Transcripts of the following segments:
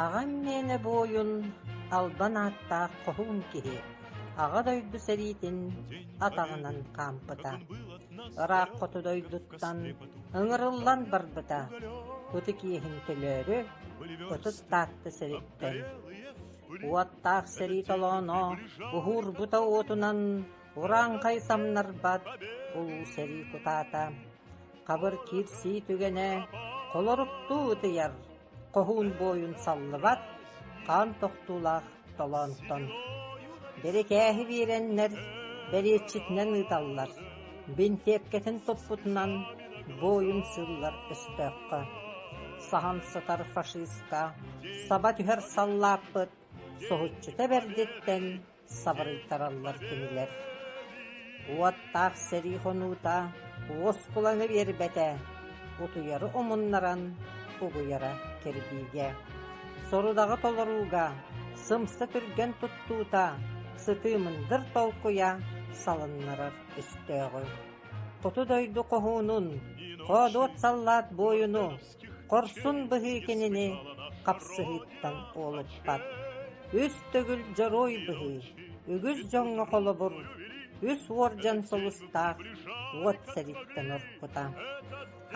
Аҕам мээнэ бу ойун албан ааттаах хоһуун киһи Аҕа дойду сэриитин атаҕынан хаампыта. Ырааххыту дойдуттан ыҥырыллан барбыта. Ытык иэһин төлөөрү, ытыс Таатта сэриттэн. Уоттаах сэрии толооно уһуурбута уотунан урааҥхай самнарбат улуу сэрии кутаата, хабыр киирсии түгэнэ холоруктуу ытыйар, хоһуун буойун саллыбат хаан тохтуулаах толоонтон. Бирикээһи биэрэннэр, бэриэтчитинэн ыыталлар. Бинтиэккэтин туппутунан бу ойун сыыллар өстөөххө, саһан сытар фашистка саба түһэр саллааппыт соһуччута бэрдиттэн сабырыйтараллар кинилэр. Уоттаах сэрии хонуута уоскуланы биэрбэтэ, утуйары умуннаран угуйара кирбиигэ, сорудаҕы толорууга сымса түргэн туттуута сытыы мындыр толкуйа салыннарар. өстөөҕү, хоту дойду хоһуунун, хоодуот саллаат буойуну, хорсун быһыы кинини хапсыһыыттан уолуппат. Үс төгүл дьоруой быһыы, үгүс дьоҥҥо холобур, үс уордьан сулустаах уот сэриттэн орпута.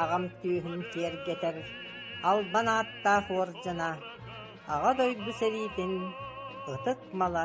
Аҕам түөһүн киэргэтэр албан ааттаах уордьана, Аҕа дойду сэриитин ытык мала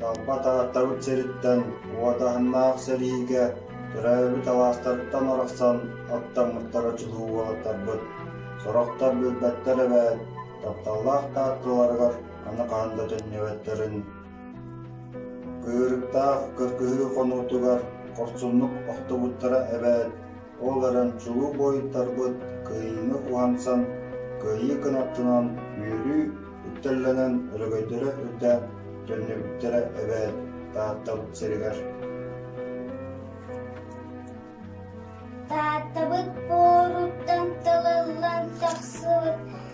Талбат ааттабыт сириттэн уот аһыннаах сэриигэ төрөөбүт алаастарыттан арахсан аттаммыттара чулуу уолаттарбыт, сорохтор билбэттэр эбээт, тапталлаах таатталарыгар аны хаһан да төннүбэттэрин. Кыырыктаах кыргыһыы хонуутугар хорсуннук охтубуттара эбээт, Ол эрэн чулуу буойуттарбыт кыайыыны уһансан, кыайыы кынаттынан үөрүү үктэллэнэн өрөгөйдөрө үрдээн төннүбүттэрэ эбээт Тааттам сиригэр Тааттабыт буоруттан тылыллан тахсыбыт